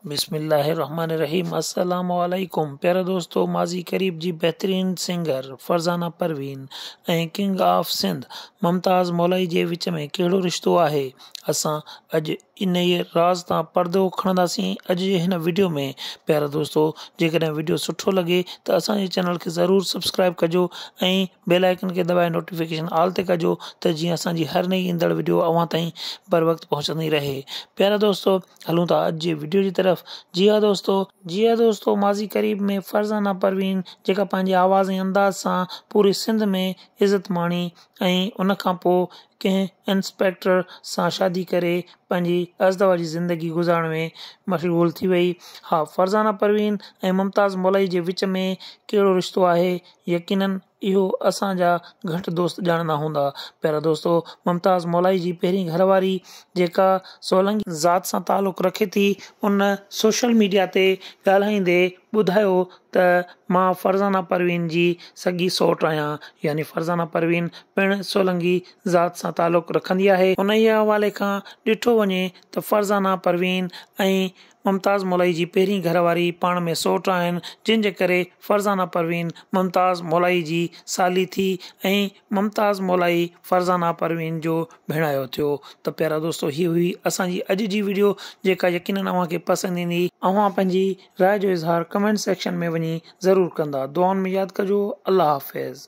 بسم الله الرحمٰن الرحيم السلام عليڪم پيارا دوستو ماضي قريب جي بهترين singer Farzana Parveen ۽ king of Sindh Mumtaz Molai جي وچ ۾ ڪهڙو رشتو آهي اسان اڄ انهيء راز تان پردو کڻنداسين اڄ جي هن وڊيو ۾ پيارا دوستو جيڪڏهن وڊيو سٺو لڳي ته اسان جي چينل کي ضرور سبسڪرائب ڪجو ۽ بيل آئيڪن کي دٻائي نوٽيفڪيشن آل تي ڪجو ته جيئن اسان جي هر نئي ايندڙ وڊيو اوهان تائين بروقت پهچندي رهي پيارا دوستو هلون ٿا اڄ جي وڊيو جي طرف جي ها دوستو. جي ها دوستو ماضي قريب ۾ فرزانه پروين جيڪا پنهنجي آواز ۽ انداز سان پوري سنڌ ۾ عزت ماڻي ۽ ان کان پو ڪنهن انسپيڪٽر سان شادي ڪري پنهنجي ازدواجي زندگي گذارڻ ۾ مشغول ٿي وئي ها فرزانه پروين ۽ ممتاز مولائي جي وچ ۾ ڪهڙو رشتو آهي يقينن اهو اسان جا گهٽ دوست ڄاڻندا هوندا. پيارا دوستو! ممتاز مولائي جي پهرين گهر واري جيڪا سولنگي ذات سان تعلق رکي ٿي ان سوشل ميڊيا تي ڳالهائيندي ٻڌايو ته مان فرزانه پروين جي سڳي سئوٽ آهيان يعني فرزانه پروين پڻ سولنگي ذات سان تعلق رکندي آهي. انهيء حوالي کان ڏٺو وڃي ته فرزانه پروين ۽ ممتاز مولائي جي پهرين گهر واري پاڻ ۾ سئوٽ آهن، جنهن جي ڪري فرزانه پروين ممتاز مولائي جي سالي ٿي ۽ ممتاز مولائي فرزانه پروين جو ڀيڻايو ٿيو ته پيارا دوستو هي هئي اسان جي اڄ جي وڊيو جيڪا يقينن اوهان کي پسند ايندي، اوهان پنهنجي راء جو اظهار ڪمينٽ سيڪشن ۾ وڃي ضرور ڪندا، دعائن ۾ ياد ڪجو، الله حافظ.